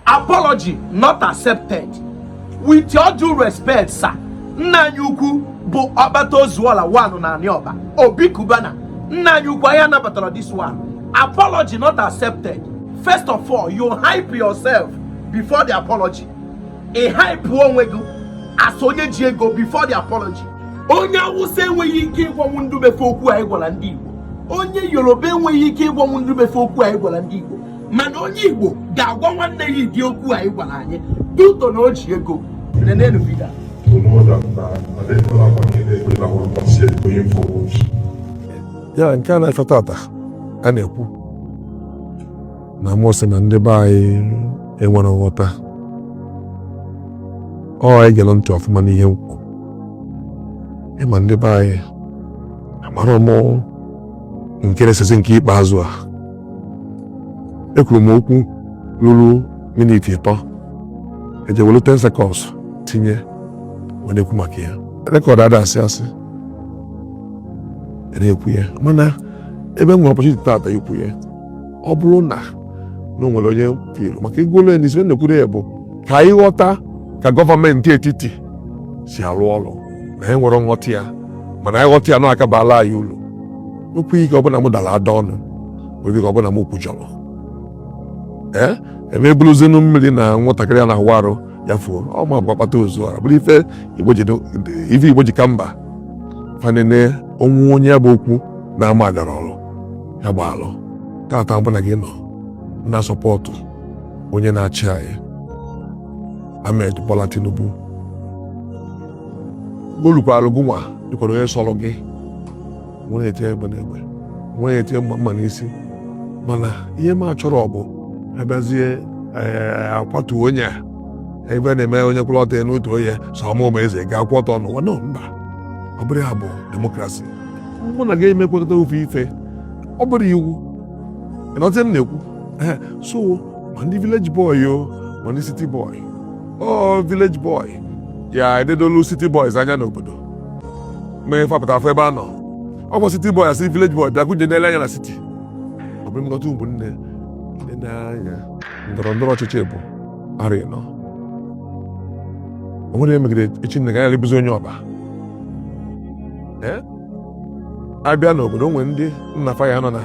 apology not accepted with your due respect sir nna anyị ukwu bụ ọkpata ozuọla one na anị ọba obi cubana nna anyị ukwu anyị anabatarọ this one apology not accepted first of all you hype yourself before the apology ị hype onwe gị as onye ji ego before the apology onye awụsa enweghị ike ịgwanwu ndị be fa okwu a ị gwara ndị igbo onye yoruba enweghị ike ịgwanwu ndị be fa okwu a ị gwara ndị igbo mana onye igbo ga-agwa nwanne ya ụdị okwu a ị gwara anyị due to na o ji ego nenenu video ya nke a na-efe tata a na-ekwu na mụ sị na ndị be anyị enwerọ nghọta ọ e gere ntị ọfụma n'ihe m kwuru ịma ndị be anyị amara m nke na-esezi nke ikpeazụ a ekwuru m okwu ruru minit ịtọ e je welu 10 seconds tinye wee na-ekwu maka ya record ada asị asị na-ekwu ya mana ebe m nwere opportunity tata ikwu ya ọ bụrụ na na o nwere onye pịrụ maka igwolu ya n'isi na-ekwuru ya bụ ka anyị ghọta ka gọọmenti etiti si arụ ọrụ na anyị enwerọ nghọta ya mana anyị ghọta ya na ọ ka-abala anyị ulu nwekwa ike ọ bụ na m dara ada ọnụ nwere ike ọ bụ na m kwujọrọ ee a ma ebuluzinụ mmiri na nwatakịrị a na-awụ arụ ya fuo ọ mụ bụ ọkpata ozuọla bụrụ ife ife igbo ji ka mba fa nene onwe onye bụ okwu na-ama agara ọrụ ya gba alụ tata ọ bụ na gị nọ na support onye na-achị anyị Ahmed Bola Tinubu o lukwara gụnwa dịkwara onye sọrọ gị nwere ete egbe na egbe nwere ete mma mma n'isi mana ihe m achọrọ ọ bụ a bịazie eh, akwatu onye a ebe na-eme onye kwụrụ ọtọ n'otu onye sọ mụ bụ eze ga-akwụ ọtọ n'ụwa no mba ọ bụrọ ya bụ democracy mụ na gị ma ekwekọta ofu ife ọ bụrọ iwu ị na-aghọta ihe m na-ekwu eh, so ma ndị village boy o ma ndị city boy o village boy ya eledolu city boys anya n'obodo mee fa pụta afụ ebe a nọ ọ bụ city boy a sị village boy bịa gụnye n'ele anya na city ọ bụ nleta ụmụnne nne anya ndọrọ ndọrọ ọchịchị bụ arị nọ o nwere emegide echi nne gaghara ịbụzi onye ọba a bịa n'obodo o nwere ndị nna fa ya nọ na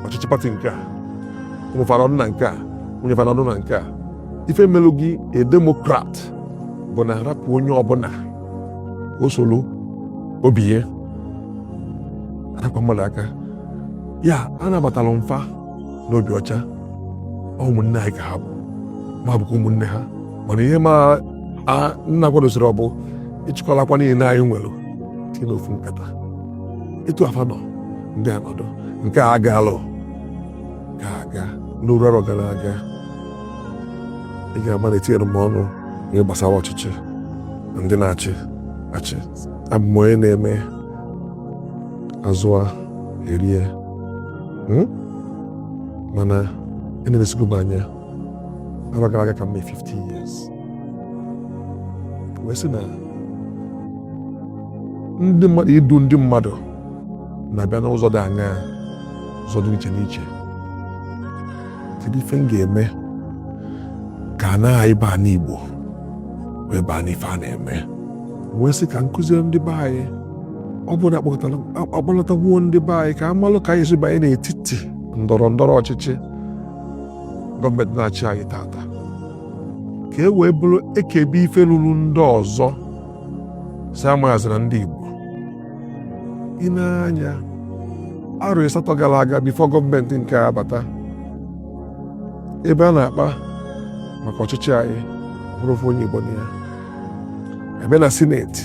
ọchịchị party nke a ụmụ fa anọdụ na nke a nwunye fa anọdụ na nke a ife melụ gị a demokrat bụ na arapụ onye ọbụla o soro obi ya arapụ mmadụ aka ya anabatara m fa n'obi ọcha ụmụnne anyị ka ha bụ ma bụkwa ụmụnne ha mana ihe m na-akwadozirọ bụ ịchịkọlakwa ihe niile anyị nwere tinye n'ofu nkata etu a fa nọ ndị a nọdụ nke a ga-alụ ga-aga n'oru arọ gara aga ị ga-ama na etinyere m ọnụ n'ihe gbasara ọchịchị na ndị na-achị achị abụ m onye na-eme azụa erie hmm? mana enelesigo m anya arọ gara aga ka m mee 50 years wee sị na ndị mmadụ idu ndị mmadụ na-abịa n'ụzọ dị aṅaa ụzọ dị iche n'iche kedu ife m ga-eme ka ana anyị bụ anị Igbo wee baa n'ife a na-eme wee sị ka m kụziere ndị be anyị ọ bụrụ na akpọlatago ndị be anyị ka amalụ ka anyị si banye n'etiti ndọrọ ndọrọ ọchịchị gọọmenti na-achị anyị tata ka e wee bụrụ e kebe ife ruru ndị ọzọ sị amazịrọ ndị Igbo ị nee anya arọ ịsatọ gara aga bifo gọọmenti nke abata ebe a na-akpa maka ọchịchị anyị onwere ofu onye Igbo na ya ebe na sineti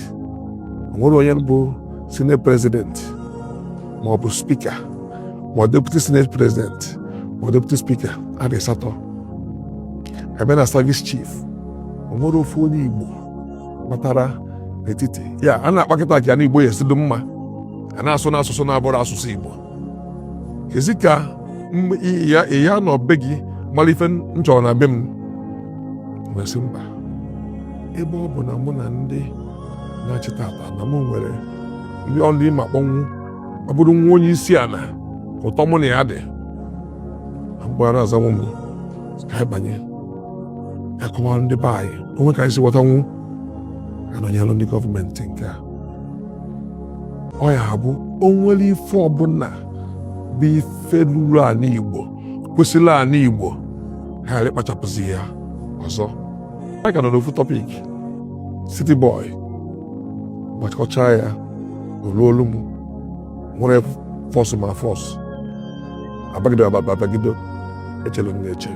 onwere onye bụ sineti prezidenti ma ọ bụ spika ma ọ deputi sineti prezidenti ma ọ deputi spika arọ asatọ ebe na savis chief onwere ofu onye Igbo batara n'etiti ya a na-akpa kịta ka anị igbo ya-esi dị mma a na-asụ n'asụsụ na-abụrọ asụsụ igbo kezi ka ị ya-anọ be gị mara ife m chọrọ na be m m wee sị mba ebe ọ bụ na mụ na ndị na-achị tata na mụ nwere ndị one m ya-akpọnwu ọ bụrụ nwa onye isi ala ụtọ mụ na ya dị m kpọọ ọ na-azanwụ m ka anyị banye akọwara ndị be anyị onwere ka anyị si ghọtanwu ka a nọnyelụ ndị gọọmenti nke a ọ ya-abụ onwere ife ọbụla bụ ife ruru ala Igbo kwesịrị ala Igbo ha ghara ịkpachapụzi ya ọzọ anyị ka nọ n'ofu tọpik City Boy gbachikọcha ya olu olu m nwere fọsụ ma fọsụ abagide abagide echelu m na-eche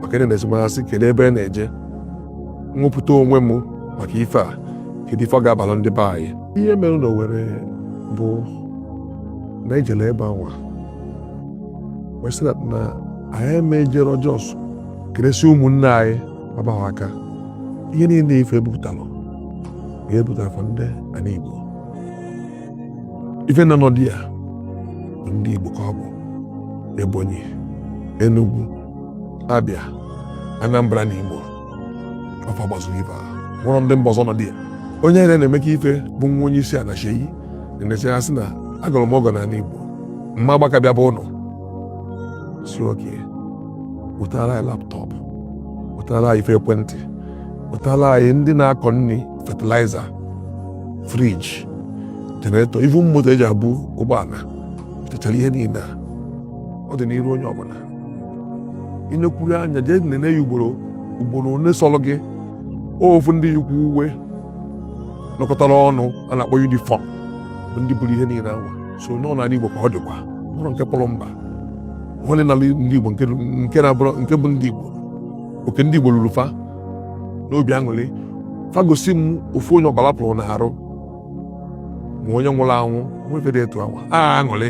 maka ị na-asị m asị kedu ebe a na-eje m wepụta onwe m maka ife a kedu ife ọ ga-abalụ ndị be anyị ihe mere na Owerri bụ na e jelu ebe anwa wee sị na anyị eme ejere just keresie ụmụnne anyị gbaba ha aka ihe niile ife ebupụtalụ ga-ebutara fa ndị ana Igbo ife na nọdụ ya ndị Igbo ka ọ bụ Ebonyi Enugu Abia Anambra na Imo fa gbazuru ife a nwerọ ndị mba ọzọ nọdụ ya onye ere na-eme ka ife bụ nwa onye isi ana Seyi na-eneche ya sị na agọrọ m ọgọ n'ala Igbo m ma agba aka bịa be ụnụ sị okay wetara anyị laptop wetara anyị ife ekwentị wetara anyị ndị na-akọ nri fertilizer fridge generator even moto eji abụ ụgbọana techara ihe niile a ọ dị n'iru onye ọbụla i nekwuru anya jee nene ya ugboro ugboro ole sọrọ gị ofu ndị yikwu uwe nọkọtara ọnụ a na-akpọ uniform bụ ndị buru ihe niile anwa so nọ n'ala Igbo ka ọ dịkwa ụlọ nke pụrụ mba onye na ndị Igbo nke bụ ndị Igbo oke ndị Igbo lulu fa n'obi aṅụrị fa gosi m ofu onye ọbara pụrụ n'arụ ma onye nwụrụ anwụ nwefere etu anwa aṅụrị